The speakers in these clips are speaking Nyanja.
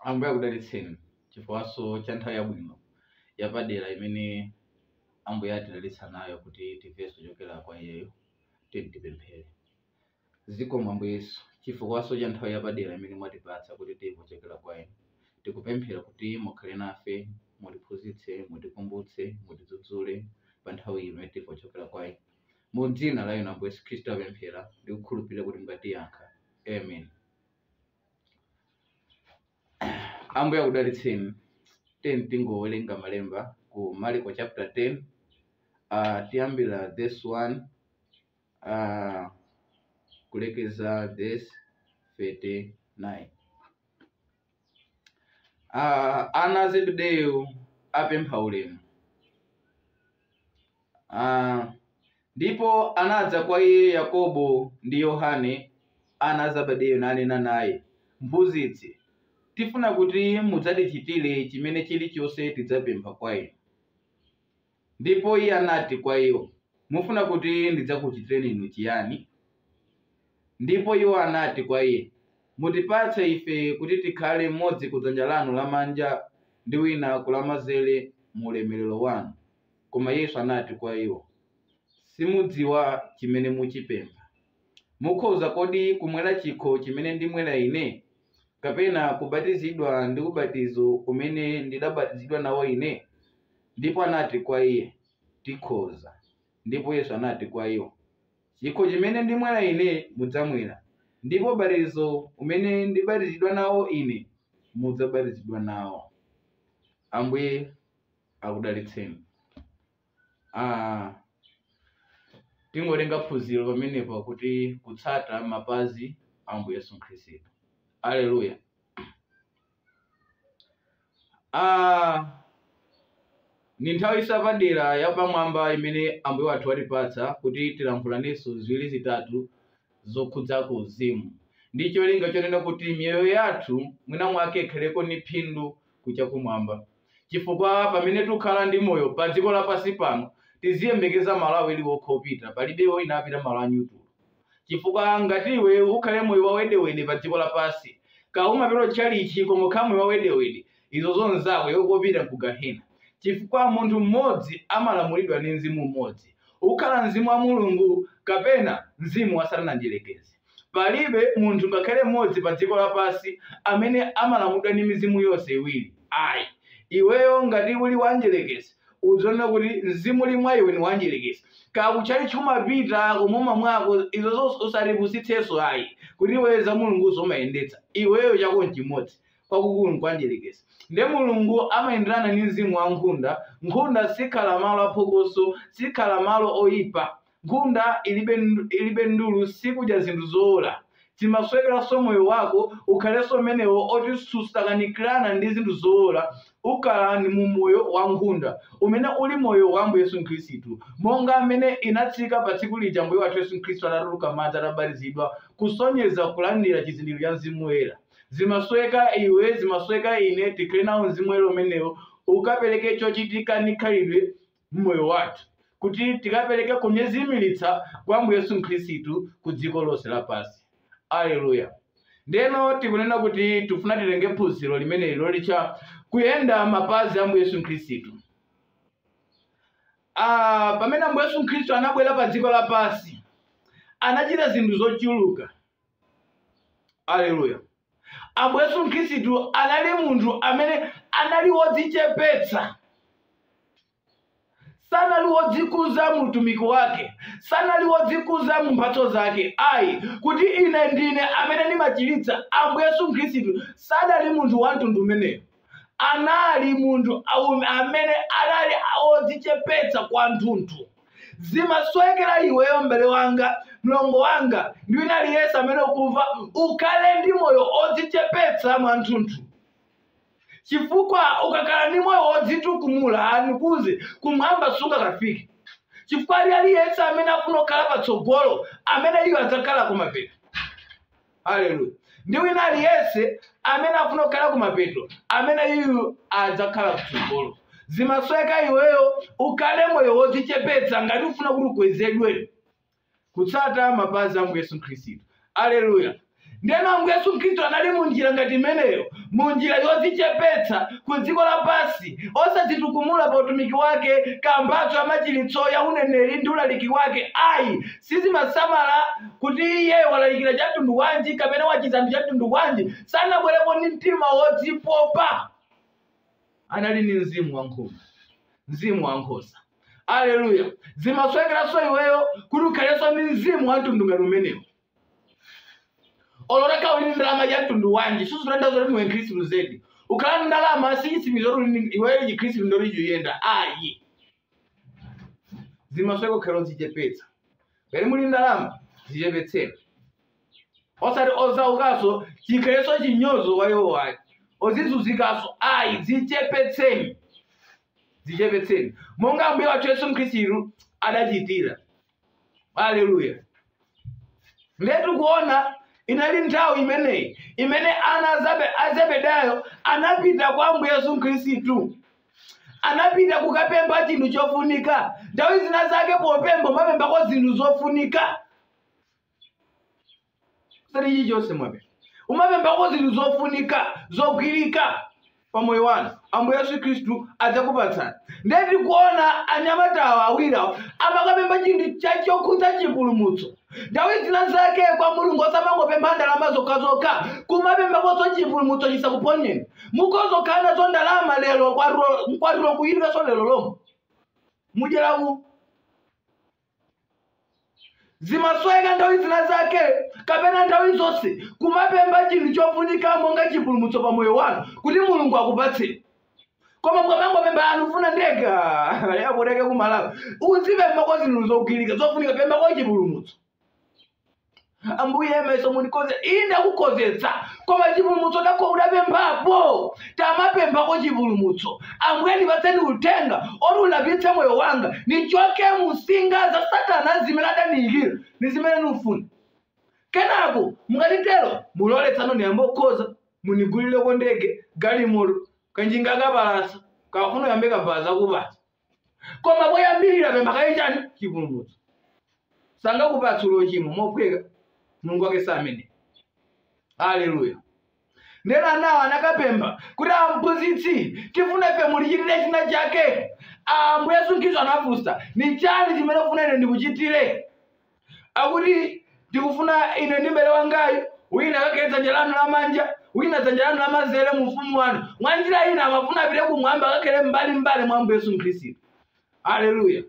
ambuye akudalitseni chifukwanso cha nthawi yabwino yapadera imene ambuye atidalitsa nayo kuti timvenso zochokera kwa iyeyo tiyeni tipemphere Zikomo Ambuye Yesu chifukwanso cha nthawi yapadera imene mwatipatsa kuti timve kuchokera kwa inu. Tikupemphera kuti mukhale nafe, mutiphunzitse, mutikumbutse, mutidzudzule pa nthawi iyi imene timve kuchokera kwa inu. Mu dzina la inu Ambuye Yesu Khristu apemphera ndi kukhulupirira kuti mungatiyankha. Amen. Ambuye akudalitseni. Tiyeni tingowerenga malemba ku Marko chapter 10 uh, tiyambira verse 35 uh, kulekeza verse 39 Ah, ana a zebedeyo apempha ulemu Ah, ndipo anadza kwa iye yakobo ndi yohane ana a zebedeyo nanena naye mphunzitsi tifuna kuti mudzatichitire chimene chilichonse tidzapempha kwa inu Ndipo Iye anati kwa iwo, Mufuna kuti ndidzakuchitireni inu chiyani? Ndipo iwo anati kwa Iye, Mutipatse ife kuti tikhale mmodzi ku dzanja lanu lamanja ndi wina ku lamanzere mu ulemerero wanu. Koma Yesu anati kwa iwo, Simudziwa chimene muchipempha. Mukhoza kodi kumwera chikho chimene ndimwera Ine? kapena kubatizidwa ndi ubatizo umene ndidabatizidwa nawo ine? Ndipo anati kwa iye, Tikhoza. Ndipo Yesu anati kwa iwo, Chikho chimene ndimwera ine mudzamwera, ndipo ubatizo umene ndibatizidwa nawo ine mudzabatizidwa nawo. Ambuye akudalitseni. Ah, tingotenga phunziro pamenepa kuti kutsata mapazi a Ambuye Yesu Khristu. Aleluya. Ah, ni nthawi yapadera yapamwamba imene Ambuye wathu watipatsa kuti tilankhulanenso ziwiri zitatu zokhudzako uzimu ndi cholinga chonena kuti miyoyo yathu mwina mwake ikhaleko ni phindu ku chakumwamba chifukwa pamene tukhala ndi moyo pa dziko lapansi pano tiziyembekeza malo awiri okha opita palibe wina apita malo anyutulo chifukwa ngati iwe ukhale moyo wawedewede pa dziko lapansi kaya umapita tchalichi koma ukhala moyo wawedewede izo zonzako iwe kopita ku gahena chifukwa munthu mmodzi amalamulidwa ndi mzimu umodzi kukhala mzimu wa mulungu kapena mzimu wa satana mdierekezi Palibe munthu ngakhale mmodzi pa dziko lapansi amene amalamulidwa ndi mizimu yonse iwiri ayi. Iweyo ngati uli wa mdyerekezi udzionera kuti mzimu uli mwa iwe ni wa mdyerekezi. Kaya ku chalichi umapita komwe umamwako izozo usatipusitsenso ayi kuti iweyo za Mulunguzo umayendetsa. Iweyo chako nchimodzi, kwakukulu nkwa mdyerekezi. Nde Mulungu amayenderana ndi mzimu wa nkhunda. Nkhunda sikhala malo a phokoso, sikhala malo oipa. Nkhunda ilibe ndulu sikudya zinthu zoola zimasowekeranso moyo wako ukhalenso umenewo oti susakanikirana ndi zinthu zoola ukhale ndi moyo wa nkhunda umene uli moyo wa ambuye yesu khristu monga amene inatsika pa tsiku lija ambuye wathu yesu khristu atatuluka mmadzi atabatizidwa kusonyeza kulandira chizindikiro cha mzimu woyera zimasoweka iwe zimasoweka ine tikhale nawo mzimu woyera umenewo ukapereke chochitika ndi khalidwe m'moyo wathu kuti tikapereke kunyezimiritsa kwa Ambuye Yesu Khristu ku dziko lonse lapansi. Aleluya! Ndeno tikunena kuti tifuna titenge phunziro limeneli lolitcha kuyenda m'mapazi a Ambuye Yesu Khristu. Ah, pamene Ambuye Yesu Khristu anabwera pa dziko lapansi anachita zinthu zochuluka. Aleluya! Ambuye Yesu Khristu anali munthu amene anali wodzichepetsa. Sanali wodzikuza mu utumiki wake, sanali wodzikuza mu mphatso zake. Ayi, kuti ine ndine amene ndimachiritsa, Ambuye Yesu Khristu sanali munthu wa mtundu umenewo. anali munthu aum- amene anali odzichepetsa kwanthunthu zimasowekera iweyo mbale wanga mlongo wanga ndi wina aliyense amene ukumva ukhale ndi moyo odzichepetsa mwanthunthu chifukwa ukakhala ndi moyo wodzitukumula ndikuuze kumwamba sungakafike chifukwa wina aliyense amene afuna kukhala patsogolo ameneyo adzakhala kumapeto haleluya ndi wina aliyense amene afuna kukhala kumapeto ameneyu adzakhala kutsogolo zimasoweka iweyo ukhale moyo wodzichepetsa ngati ufuna kuti ukwezedwe kutsata mapazi a Ambuye Yesu Khristu. Aleluya. Ndeno Ambuye Yesu Khristu anali mu njira ngati imeneyo, mu njira yodzichepetsa ku dziko lapansi, osadzitukumula pa utumiki wake, pa mphatso ya machiritso ya uneneri ndi ulaliki wake. Ayi, Sizimasamala kuti iye walalikira cha mtundu wanji kapena wachiza anthu cha mtundu wanji, sanabwerepo ndi mtima wodzipopa. Anali ndi mzimu wa nkhosa, mzimu wa nkhosa. Aleluya! Zimasowekeranso iweyo kuti ukhalenso ndi mzimu wa mtundu ngati umenewu. Olo utakhala uli ndi ndalama ya mtundu wanji, sizitanthauza kuti ndiwe Mkhristu zedi. Kukhala ndi ndalama si chitsimikizo kuti uli ndi- iweyo Chikhristu ndiye kuti chiyenda. Ayi. zimasoweka kukhala odzichepetsa ngati muli ndalama zichepetseni osati osaukaso chikhalenso chinyozo kwa iwo ayi ozizunzikaso ayi dzichepetseni dzichepetseni monga ambuye wathu yesu khristu adachitira Haleluya! Ndiye tikuona inali nthawi imeneyi imene ana a Zebe- a Zebedayo anapita kwa Ambuye Yesu Khristu, anapita kukapempha chinthu chofunika. Nthawi zina zake popempha umapemphako zinthu zofunika. sati chilichonse mwapempha kumapemphako zinthu zofunika zogwirika pa moyo wanu ambuye yesu khristu adzakupatsani ndiye tikuona anyamatawa awirawo amakapempha chinthu cha- chokhudza chipulumutso nthawi zina zake kwa mulungu osamangopempha ndalama zokhazokha kumapemphakonso chipulumutso chisakuphonyeni mukhoza kukhala nazo ndalama lero mkwatulo kuyidwanso lero lomwe mudyera ku zimasoweka nthawi zina zake kapena nthawi zonse kumapempha chinthu chofunika monga chipulumutso pa moyo wanu kuti mulungu akupatseni koma mukamangopempha a ndufuna ndege ah, yakuteke ku malawi uzipemphako zinthu zogwirika zofunika pemphako chipulumutso ambuye mayeso mundikhozetse ine ndakukhozetsa koma chipulumutso chako udapemphapo tamapemphako chipulumutso ambuye ndipatseni uthenga oti ulapitse moyo wanga nichoke mu nsinga za satana zimene adandiyikira ndi zimene ndifuna kenako mukatitero mulole tsano ndiyambe kukhoza munigulireko ndege galimoto kanjinga kapalasa kafuna ndiyambe kabaza kupasa koma poyambirira pempha kaye chani chipulumutso sangakupatse uli ochimwa mophweka mulungu wake si amene haleluya ndeno anawo anakapempha kuti amphunzitsi tifuna ife mutichitire china chake ambuye yesu khristu anafunsa ni chani chimene mufuna ine ndikuchitire akuti ndikufuna ine ndi mbale wangayu wina akakhale dzanja lanu lamanja wina dzanja lanu lamanzere mu ufumu wanu mwa njira ina amafuna apite kumwamba akakhale m'mbalimbali mwa ambuye yesu khristu haleluya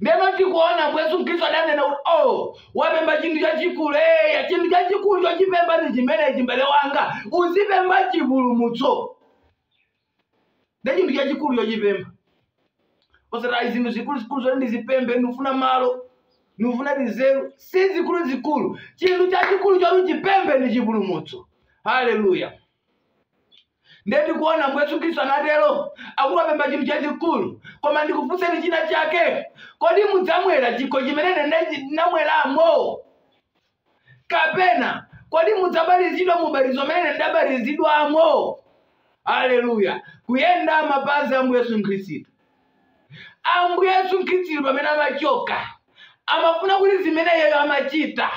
ndeno tikuona ambuye yesu khristu adanena kuti o wapempha chinthu chachikulu eya chinthu chachikulu chochipempha ndi chimenechi mbale wanga uzipempha chipulumutso nde chinthu chachikulu chochipempha osati ayi zinthu zikuluzikulu zoti ndizipemphe ndikufuna malo ndikufuna tinzeru si zikuluzikulu chinthu chachikulu choti uchipemphe ndi chipulumutso haleluya ndiye tikuona mbuye yesu khristu anatero akuti wapempha chinthu chachikulu koma ndikufunseni china chake kodi mudzamwera chikho chimene ine ndinamweramo kapena kodi mudzabatizidwa muubatizo umene ndabatizidwamo aleluya kuyenda mapazi a ambuye yesu khristu ambuye yesu khristu pamene amachoka amafuna kuti zimene iyeyo amachita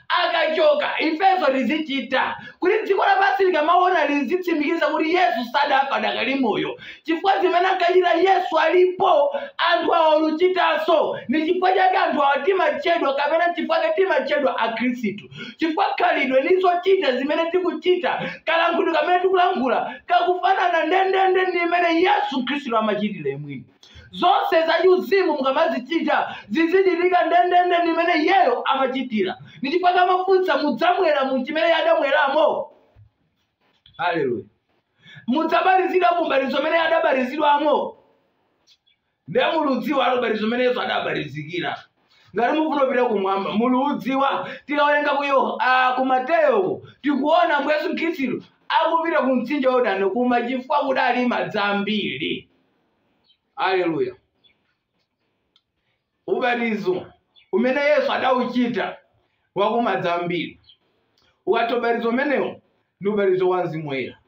akachoka ifenso tizichita kuti dziko lapansi likamaona lizitsimikiza kuti yesu sadafa adakali moyo chifukwa zimene ankachita yesu alipo anthu awa oluchitanso ni chifukwa chake anthu awa timachedwa kapena chifukwa chake timachedwa akhristu chifukwa khalidwe ni zochita zimene tikuchita kalankhulidwe kamene tikulankhula kakufanana ndendende ndi mmene yesu khristu amachitira mwini zonse zachiuzimu mukamazichita zizichitika ndendende ndimene iyeyo amachitira ndi chifukwa chake amafunsa mudzamwera mu chimene iye adamweramo haleluya mudzabatizidwa mu ubatizo umene iye adabatizidwamo ndiye muludziwa ubatizo umene yesu adabatizidwira ngati mufuna kupita kumwamba muludziwa tikawerenga ku Yoh- ah, ku mateyo tikuona ambuye yesu khristu akupita ku mtsinje wa yordano kuja chifukwa kudali madzi ambiri Aleluya! Ubatizo umene Yesu adauchita wakumadzi ambiri, ukatha ubatizo umenewo ndi ubatizo wa Mzimu Woyera.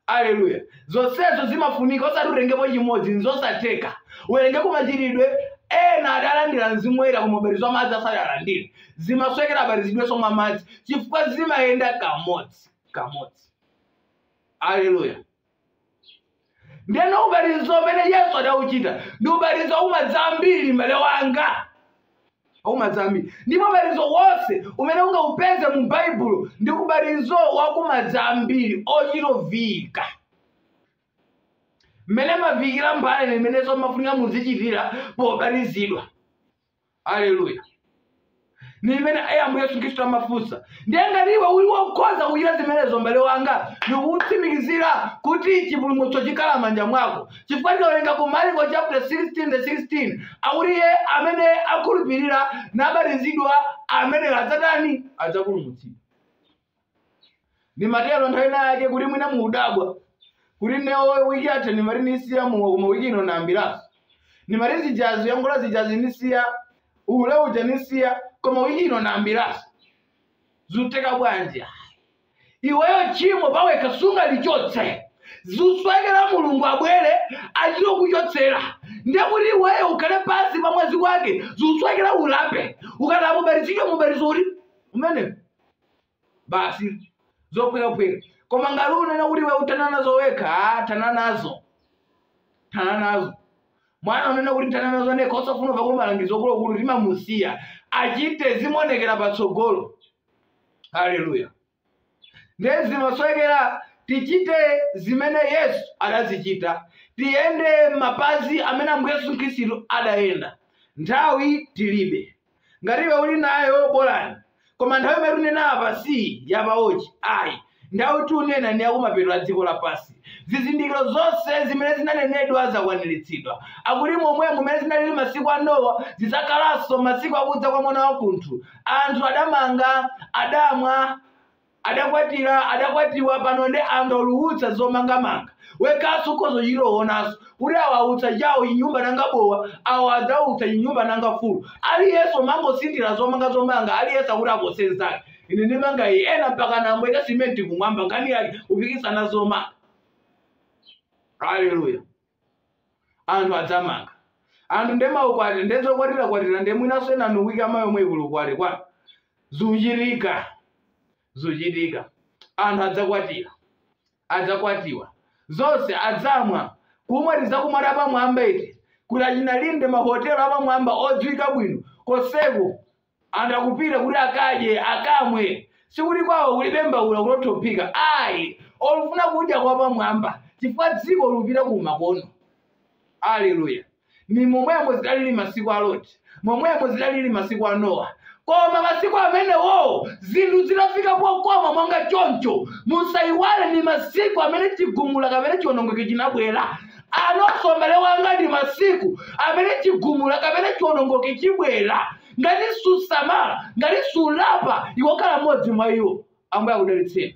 Aleluya! Zonsezo zimafunika, osati utengepo chimodzi, nzosatheka. Uwerengeko Machitidwe, ena adalandira Mzimu Woyera koma ubatizo wa madzi asadalandire. Zimasowekera abatizidwenso mwa madzi chifukwa zimayenda kamodzi kamodzi. Aleluya! ndeno ubatizo umene yesu adauchita ndi ubatizo wakumadzi ambiri mbale wanga wakumadzi ambiri ndipo ubatizo wonse umene ungaupeze mu baibulo ndi ubatizo wakumadzi ambiri ochitovika mmene mumavikira mbale ndi mmenenso mumafunikira muzichitira pobatizidwa aleluya ni imene ambuye yesu khristu amafunsa ndiye ngati iwe uli wokhoza kuchita zimenezo mbale wanga ndikutsimikizira kuti chipulumutso chikhala manja mwako chifukwa tikawerenga ku mariko chapter 16 verse 16 akuti iye amene akhulupirira nabatizidwa ameneyo adzatani adzapulumutsidwa ndimatero nthawi ina yake kuti mwina mukudabwa kuti newo wiki yatha ndimati nisiya mowa koma wiki ino nayambiranso ndimati zijazi yangola zijazi nisiya uhule uja nisiya koma wiki ino nayambiranso zitheka bwanji iweyo chimo pawekha sungalichotse zusowekera mulungu abwere achite kuchotsera ndekuti iweyo ukhale pansi pa mwazi wake zusowekera ulape ukatha ubatizidwe mu ubatizo uti umenewo basi zophwekaphweka koma ngati unena kuti iwe uthana nazo wekha ah, thana nazo thana nazo mwana unena kuti nthana nazo nekha osafuna kumva kuti malangizo akuluakulu timamusiya achite zimuonekera patsogolo haleluya ndiye zimasowekera tichite zimene yesu adazichita tiyende mapazi amene ambuye yesu khristu adayenda nthawi tilibe ngati iwe uli nayo bolani koma nthawi imene tunena apa si ya pawotchi ayi nthawi tunena ni yakumapeto a dziko lapansi zizindikiro zonse zimene zinanenedwa zakwaniritsidwa akuti momwemo mmene zinalili masiku a nowa zidzakhalanso masiku akudza kwa mwana wa munthu anthu adamanga adamwa adakwatira adakwatiwa pano nde angoulutsa zomangamanga wekhanso ukhoza chiloonanso kuti awa autsa chawo chinyumba nanga bwa awo adzautsa chinyumba nanga fulu aliyense umangosirira zomanga zomanga aliyense akuti apose nzake ine ndimanga iyi ena mpaka nambobweleka simenti kumwamba nkhani yake kupikisana zomanga haleluya anthu adzamanga anthu nde maukwati nde zokwatira kwatira nde mwinanso enanu wiki ya mawa yomwei kuli ukwati kwa zuchitika zuchitika anthu adzakwatira adzakwatiwa zonse adzamwa kumwa tizakumwa tapamwamba eti kuti achina Linde mahotelo apamwamba odziwika bwino konseko anthu akupita kuti akadye akamwe sikuti kwawo kulibe mbaula kuti othophika ayi akufuna kudya kwapamwamba chifukwa dziko lupita ku makono aleluya ni momwemo zidalili masiku a loti momwemo zidalili masiku a nowa koma masiku amenewo zinthu zidafika pokoma monga choncho musayiwale ni masiku amene chigumula kapena chiwonongeko chinabwera Anonsowa m'bale wanga ndi masiku amene chigumula kapena chiwonongeko chibwera ngati susamala ngati sulapa iwe ukhala mmodzi mwa iwo ambuye akudalitseni